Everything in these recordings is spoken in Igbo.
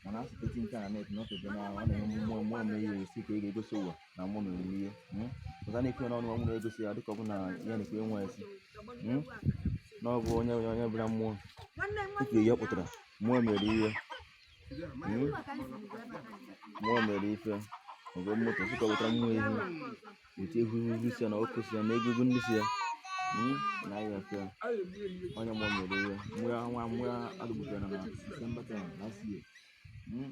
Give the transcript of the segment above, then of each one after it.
mana asụteti nke a na-eti na ọtụtụ na ọ na-enwe mmụọ mmụọ na ihe esi ka ị ga-egosi ụwa na mmụọ mere ihe ọzọ na-ekwe n'ọnụ ọnwụ na-egosi ya dịka ọ bụ na ya na-ekwe nwa esi na ọ bụ onye onye bụla mmụọ tupu ihe ọ pụtara mmụọ mere ihe mmụọ mere ife mgbe moto sịka wetara mmụọ ehi weta ehu ihu si ya na ọkụ si ya na egogo ndị si ya hmm? na ahịa fe onye mmụọ mere ihe mụọ ya nwa mụọ ya adụgbugara na December 10 last year hmm?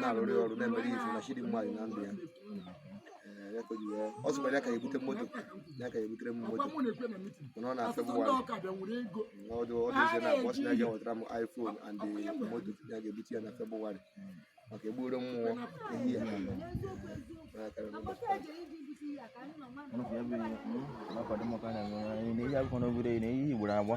na-arụrị ọrụ na-emere izu na chidi mmadụ na ndụ ya ọ sịkwara ya ga-ebute moto ya ga-ebutere m moto mana ọ na-afịa m wara ọdụ ọdụzie na akpọsị na ya wetara m iphone and moto ya ga-ebute ya na febụwarị maka egburu mmụọ ehi na ihe akwụkwọ n'obodo na ihe igboro agba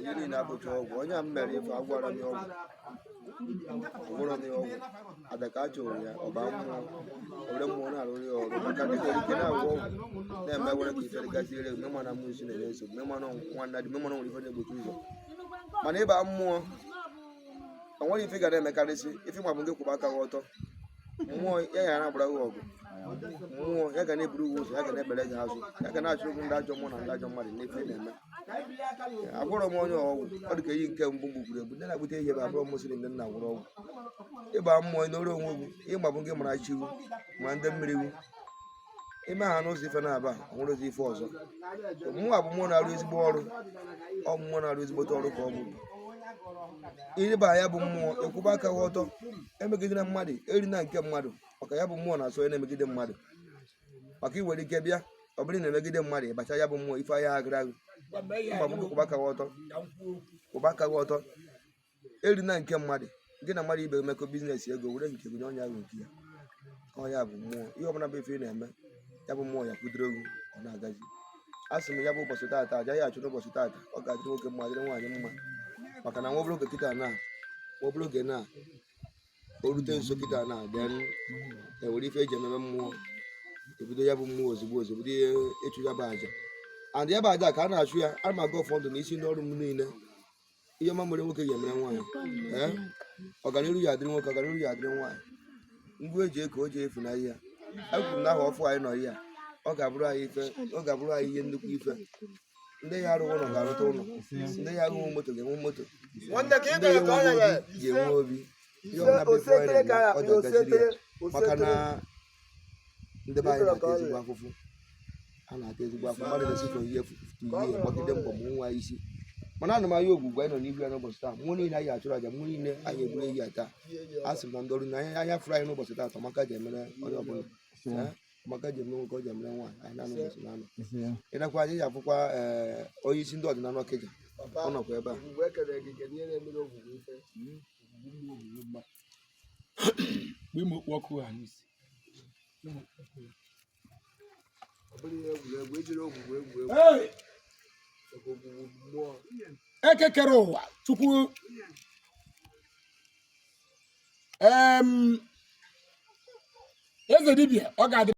ihe niile abụghị ọgwụ onye a m mere ife agwọrọ m ya ọgwụ agwọrọ m ya ọgwụ aja ka a chụrụ ya ọ ba mmụọ ore mmụọ na-arụrụ ya ọrụ maka ndị nwere ike na-agwọ ọgwụ na-eme were ka ife gaziere mme mana mmụọ isi na-enye nsogbu mme mana nwanna dị mma mana nwere ife na-egbochi ụzọ mana ịba mmụọ o nwere ife ị ga na-emekarịsị ife ma bụ ị kwụba aka gị ọtọ mmụọ ya ga na-agbara gị ọgụ mmụọ ya ga na-eburu gị ụzọ ya ga na-ebere gị azụ ya ga na-achụ gị ndị ajọ mmụọ na ndị ajọ mmadụ n'ife ị na-eme abụrọ m onye ọgwụ ọ dị ka eyi nke mbụ mgbe gburu egbu ndị na-abụta ihe bụ abụrọ mụsịrị ndị na-agwọrọ ọgwụ ịba mmụọ nọrọ onwe gị ịma bụ ị mara chi wu ma ndị mmiri wu i mee ha n'ụzọ ife na-aba o nwerọzi ife ọzọ mana ọ bụ mmụọ na-arụ ezigbo ọrụ ọ bụ mmụọ na-arụ ezigbote ọrụ ka ọ bụrụ ị ba ya bụ mmụọ ị kwụba aka gị ọtọ emegidena mmadụ erina nke mmadụ maka ya bụ mmụọ na-asọ onye na-emegide mmadụ maka ị nwere ike bịa ọ bụrụ na-emegide mmadụ ịbacha ya bụ mmụọ ife ahịa agara agụ mgba m kwụba aka gị ọtọ kwụba aka gị ọtọ erina nke mmadụ gị na mmadụ ibe emekọ biznes ego were nke gụ nye onye ahụ nke ya ọ ya bụ mmụọ ihe ọbụla bụ ife ị na-eme ya bụ mmụọ ya kwudoro gụ ọ na-agazi a sị m ya bụ ụbọchị taata aja a ga-achụ n'ụbọchị taata ọ ga-adịrị nwoke mma dịrị nwaanyị mma maka na nwa obere oge kịta na nwa obere oge na o rute nso kịta na then ewere ife eji ememe mmụọ ebido ya bụ mmụọ ozugbo ozugbo bido ihe ịchụ ya bụ aja and ya bụ aja ka a na-achụ ya a ma aga ụfọdụ na isi n'ọrụ m niile ihe ọma mere nwoke ga-emere nwaanyị ee ọganiru ya adịrị nwoke ọganiru ya adịrị nwaanyị ngwa eji eke o ji efu na ihe a kwuru na ahọ ọfụụ anyị nọ ihe a ọ ga-abụrụ anyị ife ọ ga-abụrụ anyị ihe nnukwu ife ndị ya arụghị ụlọ ga-arụta ụlọ ndị ya arụghị moto ga-enwe moto nwanne ka ị ndị gara ya ka ọ enweghị obi ya ga-enwe obi ihe ọbụla bụ ife anyị na-eme, ọ ga-agaziri ya. maka na ndị be anyị na-ata ezigbo afụfụ a na-ata ezigbo afụfụ mmadụ na-esi chọrọ ihe efu tutu ihe gbagide mbọ ma nwa isi mana ana m arịọ ogwugwu anyị nọ n'ihu ya n'ụbọchị taa mmụọ niile anyị achụrụ aja mmụọ niile anyị egburu ehi ya taa a sị m na ndị ọrụ na ahịa ahịa fụrụ anyị n'ụbọchị taa amaka ji emere onye ọbụla Eh, amaka ji eme nwoke ọ ji emere nwaanyị anyị na-anụ ụbọchị na-anụ ịnakwa anyị ji afụkwa ee onye isi ndị ọdịnala ọkịja ọ nọkwa ebe a mgbe ime okpu ọkụ ha n'isi eke kere ụwa chukwu eze dibịa ọ ga-adị